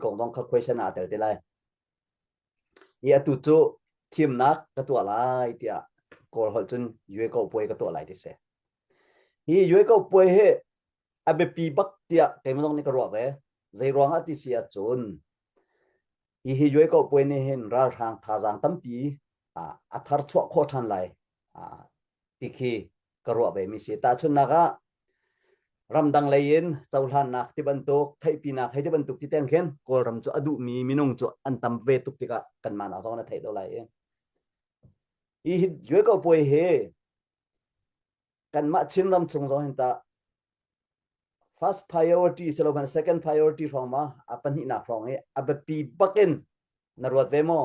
kong dong kha question ah tel te lai i atu cu thimnak ka tuah lai tiah kawl holh cun yueko puai ka tuah lai ti si hi yueko puai hi a biapi bak tiah keimah zong nih ka ruah ve zei ruang ah ti si ahcun hi hi yueko puai nih hin ralhrang thazaang tampi a thar chuah khawh than lai ti khi ka ruah ve mi si tahchunnak ah ramdang lei in cohlannak ti bantuk theihpinak hei ti bantuk ti teng khin kawlram cu a duh mi minung cu an tam ve tuk tikah kan man azong na theih do lai i hi hi due ko poi hi kanmah chin ram chung zong hin ta First priority si lo hmanh second priority hrawng ma a pahnihnak hrawng i a biapi bak in na ruat ve maw?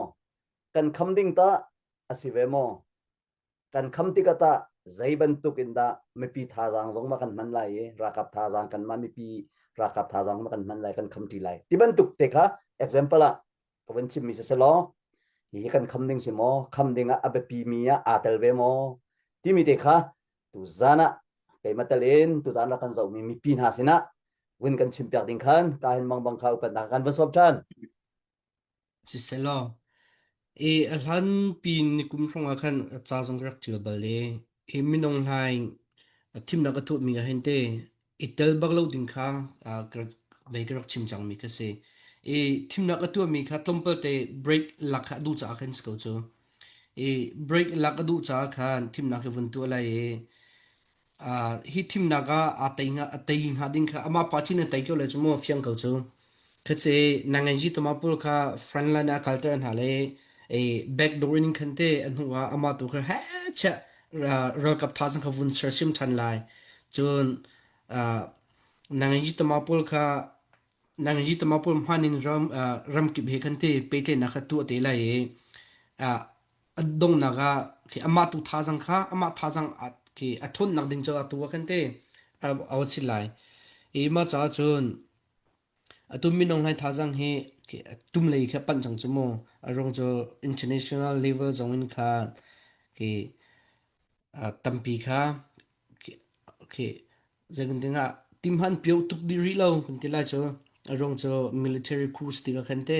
Kan kham ding ta a si ve maw? Kan kham tikah tah zei bantuk in dah mipi thazaang zong ma kan hman lai i rakap thazaang kan mah mipi rakap thazaang ma kan hman lai kan kham ṭi lai ti bantuk te kha example ah ka vun chimmi si selaw hi kan kham ding si maw kham ding ah a biapi mi ah aa tel ve maw timi te kha tuzan ah keimah tal in tuzan rak kan zohmi mipi hna sinah vun kan chimpiak ding khan ka hin mang bang kha upatnak kan van sawp ṭhan siselaw i a hlan pi ni kum hrawngah khan a ca zong ka rak ṭial bal i hi minung hlai a thimnak a thuhmi ah hin te i tel bak lo ding kha uh, ka, vei ka rak chim cangmi ka si i thimnak a tuahmi kha tlawmpal te break lak kha duh caah khan si ko cu i break lak a duh caah khan thimnak hi vun tuah lai i uh, hi thimnak ah a tei nga a tei hnga ding kha amah pa chin a tei ko le cu maw fiang ko cu Khetse na ngan ji toma pul kha front line ah kalter hna le i backdoor in khan te a hnu ah amah tu kha he che ralkap tha sang kha vun sersim than lai cun na ngan ji toma pul kha na ngan ji toma pul hman in ram ram kip he khan te petle na kha tuah te lai i a dongnak ah khi amah tu tha sang kha amah tha sang khi a thun nak ding caah tu khan te a awat sit lai i mah caah cun Atu minung hlai thazang hi tum lei kha panh cang cu mu. A ruang cu international level zong in kha ki tampi kha ki zeitin dingah timhan pio tuk dih rih lo kan ti lai cu. A ruang cu military coup stika khan te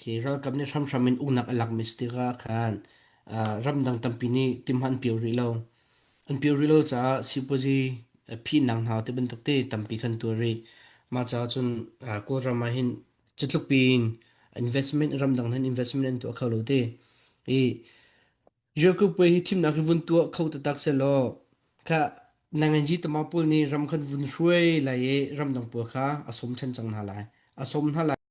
ki ralkap nih hramhram in unak a lakmi stika khan ramdang tampi nih timhan pio rih lo. An pirial caah sipuazi phihnak hna te bantuk te tampi kan tuar rih. Mah caah cun Kawlram ah hin cutluk piin investment ramdang hin investment an tuah kho lo ti. I Europe puai hi thimnak hi vun tuah kho taktak sehlaw kha nanganji tama pawl nih ram kan vun hruai lai i ramdang pawl kha a som ṭhan cang hna lai. A som hna lai.